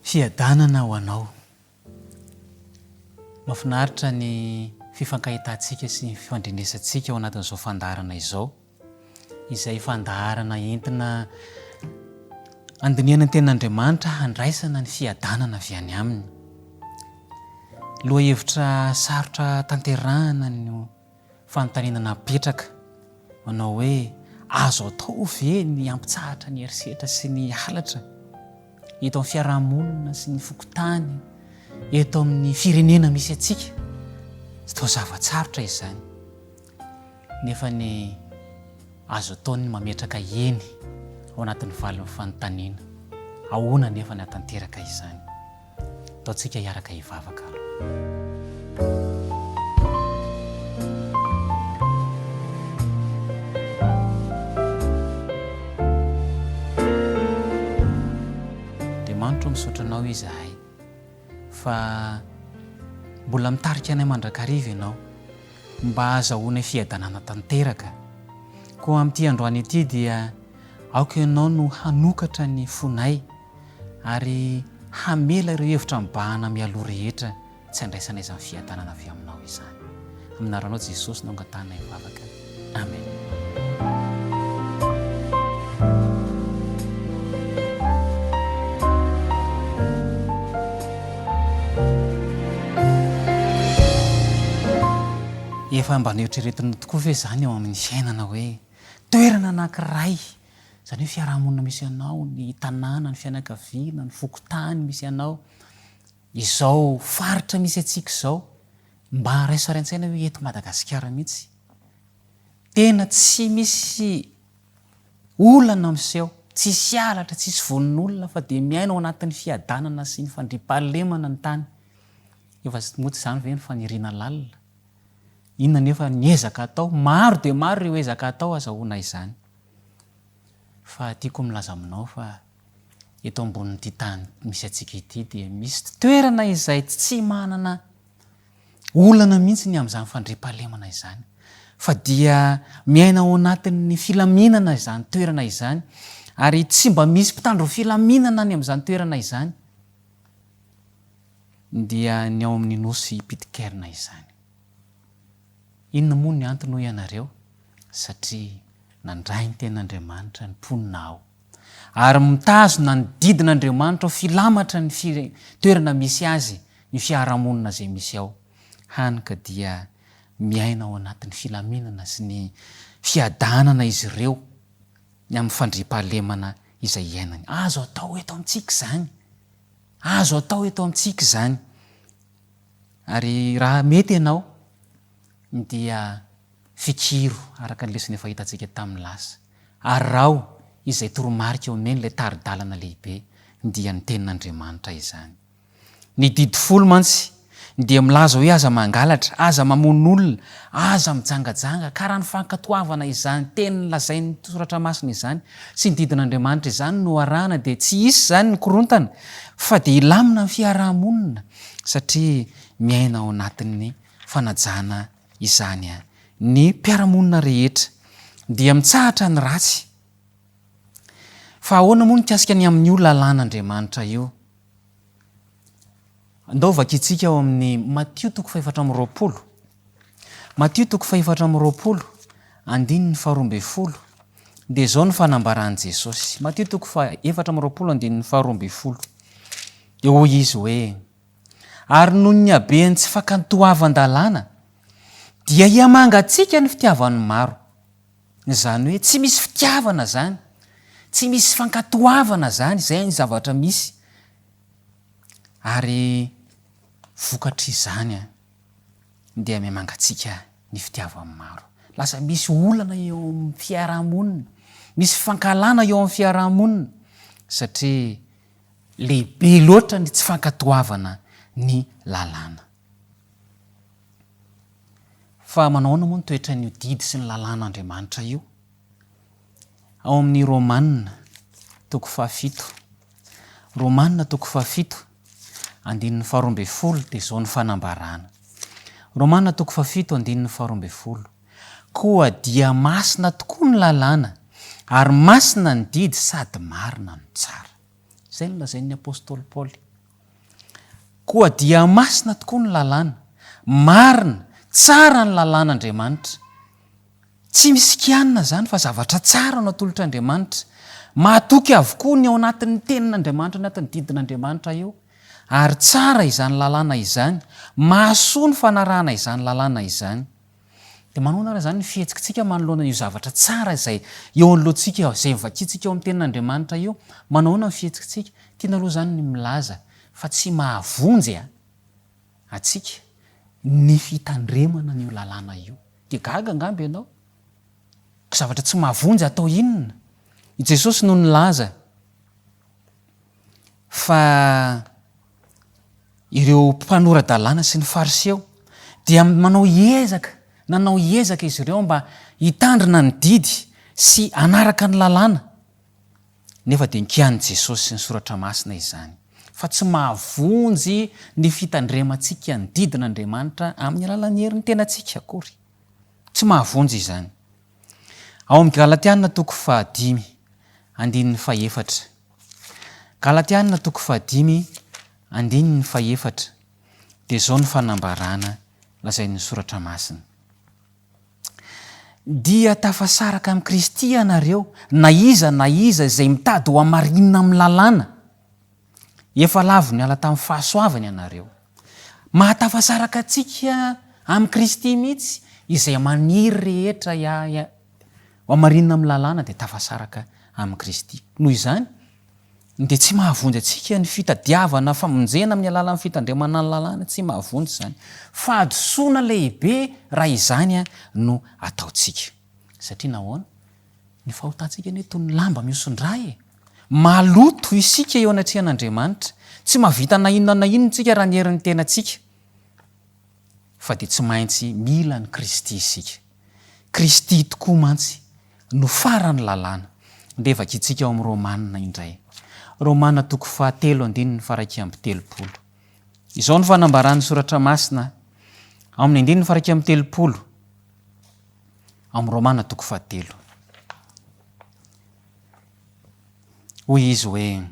Fiadanana ho anao. Mafinaritra ny fifankahitantsika sy ny fifandrenesantsika ao anatin'izao fandaharana izao, izay fandaharana entina andinihana ny tenin'Andriamanitra handraisana ny fiadanana avy any Aminy. Lohahevitra sarotra tanterahana no Fanontaniana napetraka manao hoe, Azo atao ve ny hampitsahatra ny herisetra sy ny halatra eto amin'ny fiarahamonina sy ny fokontany, eto amin'ny firenena misy antsika? Tsy toa zava-tsarotra izany, nefa ny azo atao ny mametraka eny ao anatin'ny valin'ny fanontaniana. Ahoana anefa ny hahatanteraka izany? Ataontsika hiaraka hivavaka aloha. Andriamanitro, misaotra Anao izahay fa mbola mitarika anay mandrakariva Ianao mba hahazahoanay fiadanana tanteraka. Koa amin'ity androany ity dia aoka Ianao no hanokatra ny fonay. Ary hamela ireo hevitra mibahana mialoha rehetra tsy handraisana izany fiadanana avy Aminao izany. Amin'ny anaranao Jesosy no angatahinay vavaka. Amen. Efa mba noeritreretinao tokoa ve izany ao amin'ny fiainana hoe toerana anankiray Izany hoe fiarahamonina misy anao, ny tanàna, ny fianakaviana, ny fokontany misy anao, izao faritra misy antsika izao, mba raiso ary an-tsaina hoe eto Madagasikara mihitsy tena tsy misy olana miseho, tsisy halatra, tsisy vononolona fa dia miaina ao anatin'ny fiadanana sy ny fandriampahalemana ny tany. Efa moa tsy izany ve ny faniriana lalina? Inona anefa ny ezaka atao? Maro dia maro ireo ezaka atao azahoana izany. Fa tiako milaza aminao fa eto ambonin'ity tany misy antsika ity dia misy toerana izay tsy manana olana mihitsy ny amin'izany fandriampahalemana izany fa dia miaina ao anatin'ny filaminana izany toerana izany ary tsy mba misy mpitandro filaminana any amin'izany toerana izany dia ny ao amin'ny nosy Pitcairn izany. Inona moa ny antony hoy ianareo? Satria nandray ny Tenin'Andriamanitra ny mponina aho, ary mitazona ny didin'Andriamanitra ho filamatra ny fire, toerana misy azy ny fiarahamonina izay misy ao, hany ka dia miaina ao anatin'ny filaminana sy ny fiadanana izy ireo ny amin'ny fandriampahalemana izay iainany. Azo atao eto amintsika izany. Azo atao eto amintsika izany. Ary raha mety ianao, dia fikiro araka ny lesona efa hitantsika tamin'ny lasa. Araho izay toromarika omen'ilay tari-dalana lehibe, dia ny Tenin'Andriamanitra izany. Ny Didy Folo mantsy dia milaza hoe aza mangalatra, aza mamono olona, aza mijangajanga. Ka raha ny fankatoavana izany teny lazain'ny Soratra Masina izany sy ny didin'Andriamanitra izany no arahana, dia tsy hisy izany ny korontana, fa dia hilamina ny fiaraha-monina. satria miaina ao anatin'ny fanajana izany ny mpiara-monina rehetra dia mitsahatra ny ratsy. Fa ahoana moa mikasika ny amin'io lalàn'Andriamanitra io? Andao vakintsika ao amin'ny Matio toko fahefatra amby roapolo. Matio toko fahefatra amby roapolo, andininy faharoa ambin'ny folo, dia izao no fanambaran'i Jesosy. Matio toko fahefatra amby roapolo, andininy faharoa ambin'ny folo. Dia hoy izy hoe, Ary noho ny haben'ny tsy fakantoavan-dalàna, dia hihamangatsiaka ny fitiavan'ny maro. Izany hoe tsy misy fitiavana izany, tsy misy fankatoavana izany, izay ny zavatra misy. Ary vokatr'izany, dia mihamangatsiaka ny fitiavan'ny maro. Lasa misy olana eo amin'ny fiarahamonina, misy fankahalana eo amin'ny fiarahamonina satria lehibe loatra ny tsy fankatoavana ny lalàna. Fa manao ahoana moa ny toetran'io didy sy ny lalàn'Andriamanitra io? Ao amin'ny Romana toko fahafito, Romana toko fahafito, andininy faharoa ambin'ny folo dia izao ny fanambarana. Romana toko fahafito andininy faharoa ambin'ny folo, Koa dia masina tokoa ny lalàna, ary masina ny didy sady marina no tsara. Izay no lazain'ny apostoly Paoly. Koa dia masina tokoa ny lalàna, marina, tsara ny lalàn'Andriamanitra. Tsy misy kianina izany fa zavatra tsara no atolotr'Andriamanitra. Mahatoky avokoa ny ao anatin'ny Tenin'Andriamanitra ny anatin'ny didin'Andriamanitra eo. Ary tsara izany lalàna izany. Mahasoa ny fanarahana izany lalàna izany. Dia manahoana ary izany ny fihetsiktsika manoloana io zavatra tsara izay eo anoloantsika eo, izay vakintsika eo amin'ny Tenin'Andriamanitra io? Manao ahoana ny fihetsiktsika? Tiana aloha izany ny milaza fa tsy mahavonjy a! antsika ny fitandremana an'io lalàna io. Dia gaga angamba ianao? Zavatra tsy mahavonjy atao inona? I Jesosy no nilaza fa ireo mpanora-dalàna sy ny Fariseo dia manao ezaka, nanao ezaka izy ireo mba hitandrina ny didy sy hanaraka ny lalàna. Nefa dia nikian'i Jesosy sy ny Soratra Masina izany fa tsy mahavonjy ny fitandremantsika ny didin'Andriamanitra amin'ny alalan'ny herin'ny tenantsika akory. Tsy mahavonjy izany. Ao amin'ny Galatiana toko fahadimy, andininy fahefatra. Galatiana toko fahadimy, andininy fahefatra, dia izao ny fanambarana lazain'ny Soratra Masina. Dia tafasaraka amin'i Kristy ianareo, na iza na iza izay mitady ho hamarinina amin'ny lalàna. Efa lavo niala tamin'ny fahasoavany ianareo. Mahatafasaraka antsika amin'i Kristy mihitsy izay maniry rehetra hamarinina amin'ny lalàna dia tafasaraka amin'i Kristy. Noho izany, dia tsy mahavonjy antsika ny fitadiavana famonjena amin'ny alalan'ny fitandremana ny lalàna, tsy mahavonjy izany. Fahadisoana lehibe raha izany no ataontsika. Satria nahoana? Ny fahotantsika anie toy ny lamba mihoson-dra e! Maloto isika eo anatrehan'Andriamanitra. Tsy mahavita na inona na inona isika raha ny herin'ny tenantsika. Fa dia tsy maintsy mila an'i Kristy isika. Kristy tokoa mantsy no faran'ny lalàna. Levaka isika ao amin'ny Romana indray. Romana toko fahatelo andininy faharaika amby telopolo. Izao no fanambaran'ny soratra masina ao amin'ny andininy faharaika amby telopolo ao amin'ny Romana toko fahatelo. Hoy izy hoe,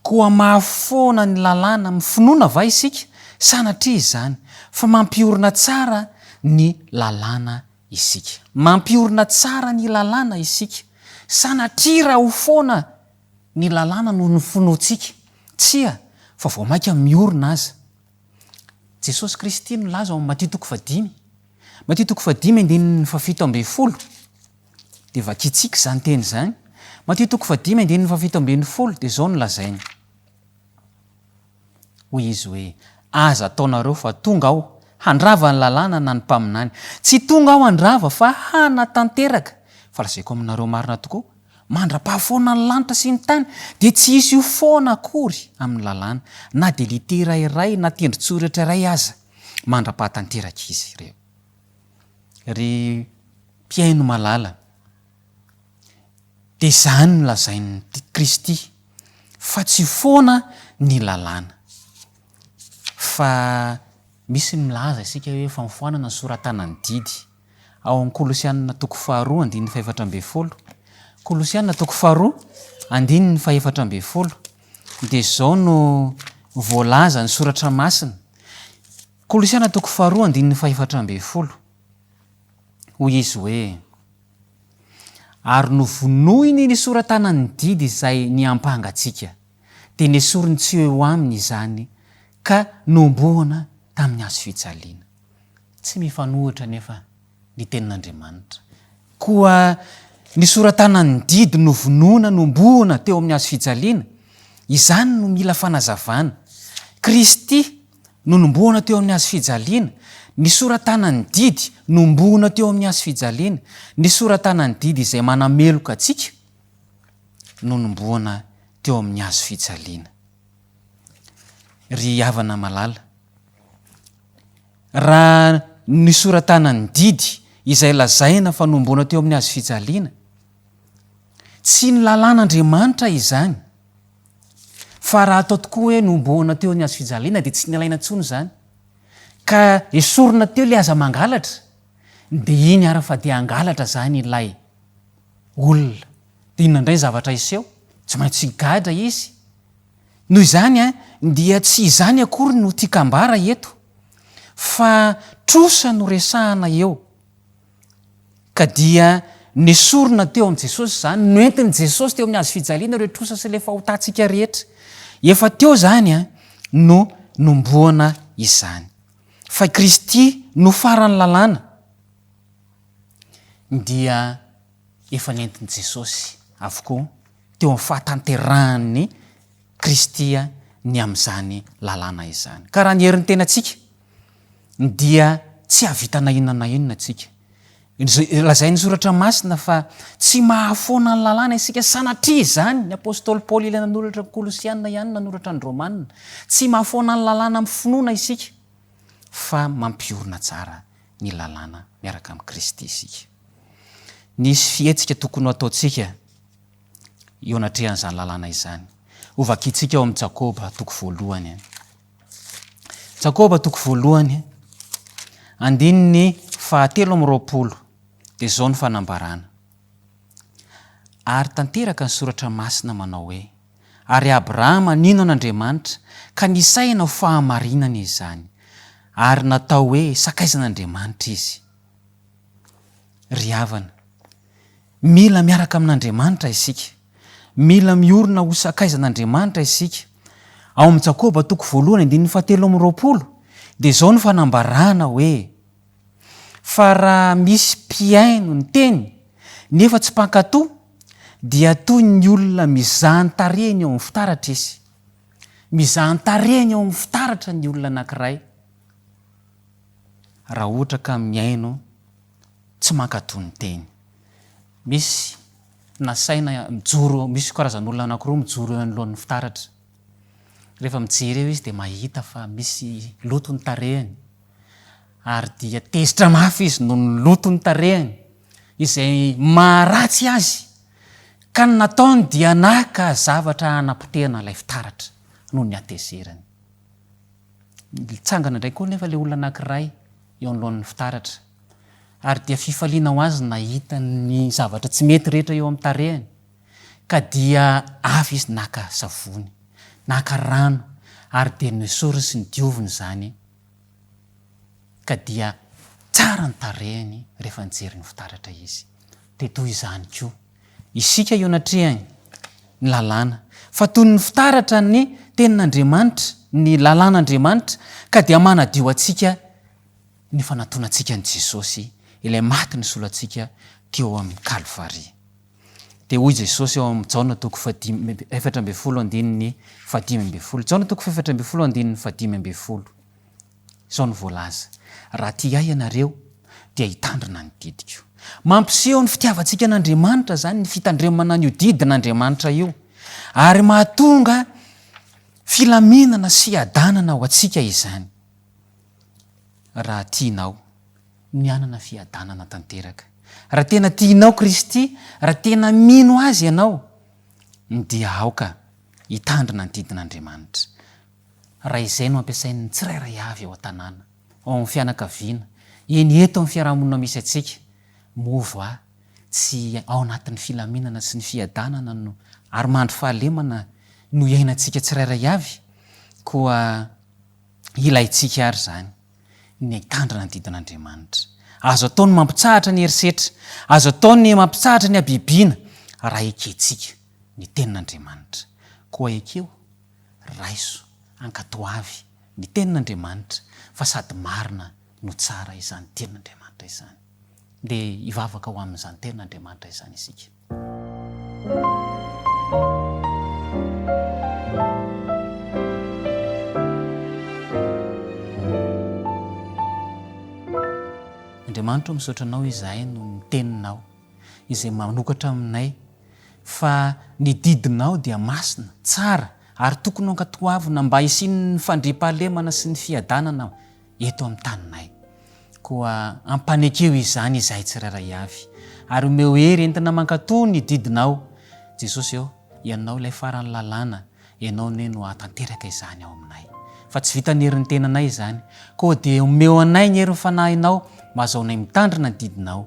koa mahafoana ny lalàna amin'ny finoana va isika? Sanatria izany, fa mampiorina tsara ny lalàna isika. Mampiorina tsara ny lalàna isika. Sanatria raha ho foana ny lalàna no nofonointsika? Tsia, fa vao mainka miorina aza. Jesosy Kristy nilaza ao amin'ny Matio toko fahadimy, Matio toko fahadimy andininy fahafito ambin'ny folo, dia vakintsika izany teny izany, Matio toko fahadimy andininy fahafito ambin'ny folo dia izao no lazainy, Hoy izy hoe, Aza ataonareo fa tonga aho handrava ny lalàna na ny mpaminany. Tsy tonga aho handrava fa hanatanteraka. Fa lazaiko aminareo marina tokoa, mandra-pahafoana ny lanitra sy ny tany, dia tsy hisy ho foana akory amin'ny lalàna, na dia litera iray na tendron-tsoratra iray aza, mandra-pahatanteraka izy ireo. Ry mpihaino malala! Dia izany no lazain'i Kristy fa tsy foana ny lalàna. Fa misy ny milaza isika hoe efa nifoanana ny soratana ny didy. Ao amin'ny Kolosianina toko faharoa andininy fahefatra ambin'ny folo, Kolosianina toko faharoa andininy fahefatra ambin'ny folo dia izao no voalaza ny soratra masina, Kolosianina toko faharoa andininy fahefatra ambin'ny folo, hoy izy hoe. Ary novonoiny ny sora-tanan'ny didy izay niampanga antsika, dia nesoriny tsy eo aminy izany ka nohomboana tamin'ny hazo fijaliana. Tsy mifanohitra anefa ny Tenin'Andriamanitra. Koa ny sora-tanan'ny didy novonoina nohomboana teo amin'ny hazo fijaliana, izany no mila fanazavana. Kristy, Nonombohana teo amin'ny hazo fijaliana, nisoratana ny didy nombohona teo amin'ny hazo fijaliana, nisoratana ny didy izay manameloka antsika nonombohana teo amin'ny hazo fijaliana. Ry havana malala, raha nisoratana ny didy izay lazaina fa nombohana teo amin'ny hazo fijaliana, tsy ny lalàn'Andriamanitra izany, Fa raha atao tokoa hoe nohomboana teo ny hazo fijaliana dia tsy nilaina intsony izany, ka esorina teo ilay aza mangalatra, dia iny ary fa dia hangalatra izany ilay olona. Dia inona indray ny zavatra hiseho? Tsy maintsy higadra izy. Noho izany dia tsy izany akory no tiako ambara eto, fa trosa no resahana eo. Ka dia nesorina teo amin'i Jesosy izany, noentin'i Jesosy teo amin'ny hazo fijaliana ireo trosa sy ilay fahotantsika rehetra. Efa teo izany no nomboana izany. Fa i Kristy no faran'ny lalàna dia efa nentin'i Jesosy avokoa teo amin'ny fahatanterahan'i Kristy ny amin'izany lalàna izany. Ka raha ny herin'ny tenantsika, dia tsy hahavita na inona na inona isika. Lazain'ny Soratra Masina fa tsy mahafoana ny lalàna isika. Sanatria izany, ny apostoly Paoly ilay nanoratra ny Kolosiana ihany nanoratra ny Romana. Tsy mahafoana ny lalàna amin'ny finoana isika, fa mampiorina tsara ny lalàna miaraka amin'i Kristy isika. Nisy fihetsika tokony hoataontsika eo anatrehan'izany lalàna izany. Hovakintsika ao amin'ny Jakoba toko voalohany. Jakoba toko voalohany, andininy fahatelo amby roapolo dia izao ny fanambarana, Ary tanteraka ny soratra masina manao hoe, Ary Abrahama nino an'Andriamanitra, ka nisahina ho fahamarinana izany, ary natao hoe sakaizan'Andriamanitra izy. Ry havana, mila miaraka amin'Andriamanitra isika. Mila miorina ho sakaizan'Andriamanitra isika. Ao amin'ny Jakoba toko voalohany andininy fahatelo amby roapolo dia izao no fanambarana hoe, Fa raha misy mpihaino ny teny nefa tsy mpankato dia toy ny olona mizaha ny tarehiny eo amin'ny fitaratra izy. Mizaha ny tarehiny eo amin'ny fitaratra ny olona anankiray raha ohatra ka mihaino tsy mankato ny teny. Misy Nasaina mijoro, misy karazan'olona anankiroa mijoro eo anoloan'ny fitaratra. Rehefa mijery eo izy dia mahita fa misy loto ny tarehiny, ary dia tezitra mafy izy noho ny loto ny tarehiny, izay maharatsy azy, ka ny nataony dia naka zavatra hanapotehana ilay fitaratra noho ny hatezerany. Nitsangana indray koa anefa ilay olona anankiray eo anoloan'ny fitaratra. ary dia fifaliana ho azy ny nahita ny zavatra tsy mety rehetra eo amin'ny tarehiny, ka dia avy izy naka savony, naka rano ary dia nesoriny sy nodioviny izany, ka dia tsara ny tarehiny rehefa nijery ny fitaratra izy. Dia toy izany koa isika eo anatrehany ny lalàna, fa toy ny fitaratra ny tenin'Andriamanitra, ny lalàn'Andriamanitra, ka dia manadio antsika, ny fanatonantsika an'i Jesosy, ilay maty nisolo antsika teo amin'ny Kalvary. Dia hoy Jesosy ao amin'ny Jaona toko fahadimy, efatra ambin'ny folo andininy fahadimy ambin'ny folo, Jaona toko fahefatra ambin'ny folo andininy fahadimy ambin'ny folo, izao no voalaza, Raha tia Ahy ianareo, dia hitandrina ny didiko. Mampiseho ny fitiavantsika an'Andriamanitra izany, ny fitandremana an'io didin'Andriamanitra io, ary mahatonga filaminana sy hiadanana ho antsika izany. Raha tianao ny hanana fiadanana tanteraka, raha tena tianao Kristy, raha tena mino Azy ianao, dia aoka hitandrina ny didin'Andriamanitra. Raha izay no ampiasain'ny tsirairay avy ao an-tanàna, ao amin'ny fianakaviana, eny eto amin'ny fiarahamonina misy antsika, moa va tsy ao anatin'ny filaminana sy ny fiadanana no ary mandry fahalemana no iainantsika tsirairay avy? Koa. Ilaintsika àry izany ny hitandrina ny didin'Andriamanitra. Azo atao ny mampitsahatra ny herisetra, azo atao ny mampitsahatra ny habibiana, raha ekentsika ny Tenin'Andriamanitra. Koa ekeo, raiso, ankatoavy ny Tenin'Andriamanitra, fa sady marina no tsara izany Tenin'Andriamanitra izany. Ndeha hivavaka ho amin'izany Tenin'Andriamanitra izany isika. Andriamanitra ô misaotra anao izahay noho ny teninao izay manokatra aminay fa ny didinao dia masina, tsara ary tokony ho ankatoavina mba hisian'ny fandriampahalemana sy ny fiadanana eto amin'ny taninay. Koa ampanekeo izany izahay tsirairay avy, ary omeo hery entina mankatò ny didinao. Jesosy ô, Ianao ilay faran'ny lalàna, Ianao anie no hahatanteraka izany ao aminay. Fa tsy vitan'ny herin'ny tenanay izany, koa dia omeo anay ny herin'ny Fanahinao mba hahazoanay mitandrina ny didinao.